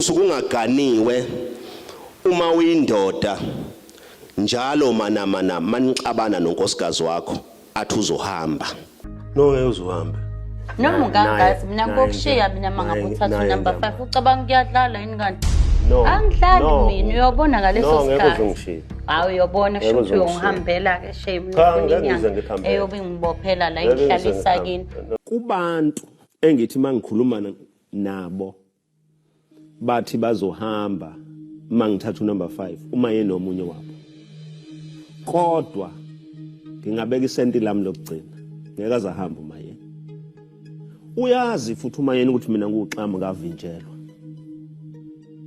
usuke ungaganiwe uma uyindoda njalo manamana manixabana nonkosikazi wakho athi uzohamba no ngeke uzohambe noma ukangazi mina ngokushiya mina mangabe uthatha unumber 5 ucabanga kuyadlala yini kanti no angidlali no. mina uyobona ngaleso no, sikhathi hawu uyobona kusho ukuthi uyongihambela ke shame eyobe ngibophela la inhlalisa kini kubantu engithi mangikhuluma nabo bathi bazohamba uma ngithatha unumber 5 uma yena omunye wabo kodwa ngingabeka isenti lami lokugcina ngeke azahamba uma yena uyazi futhi uma yena ukuthi mina nguxama kavinjelwa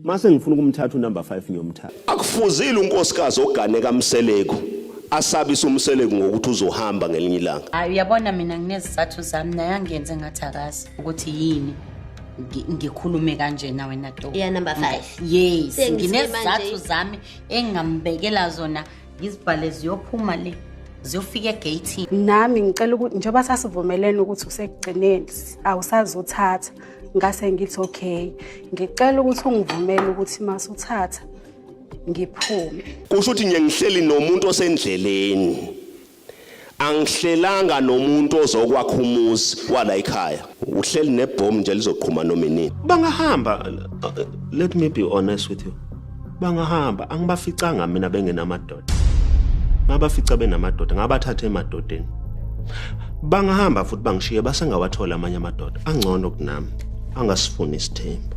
mase ngifuna ukumthatha unumber 5 ngiyomthatha akufuzile unkosikazi ogane kamseleku asabisa umseleku ngokuthi uzohamba ngelinye ilanga hayi uyabona mina nginezizathu zami naye angenze ngathi akazi ukuthi yini ngi- ngikhulume kanjena wena to Iya, number five. yes Sengizime nginezizathu manje. zami engingambekela zona ngizibhale ziyophuma le ziyofika egatini nami ngicela ukuthi njengoba sasivumelene ukuthi usekugcineni awusazothatha ngase ngithi okay ngicela ukuthi ungivumele ukuthi masuthatha ngiphume kusho ukuthi ngiye ngihleli nomuntu osendleleni angihlelanga nomuntu ozokwakha umuzi wala ekhaya uhleli nebhomu nje lizoqhuma noma inini bangahamba uh, let me be honest with you bangahamba angibaficanga mina bengenamadoda ngabafica benamadoda ngabathatha emadodeni bangahamba futhi bangishiye basengawathola amanye amadoda angcono kunami angasifuni isithembu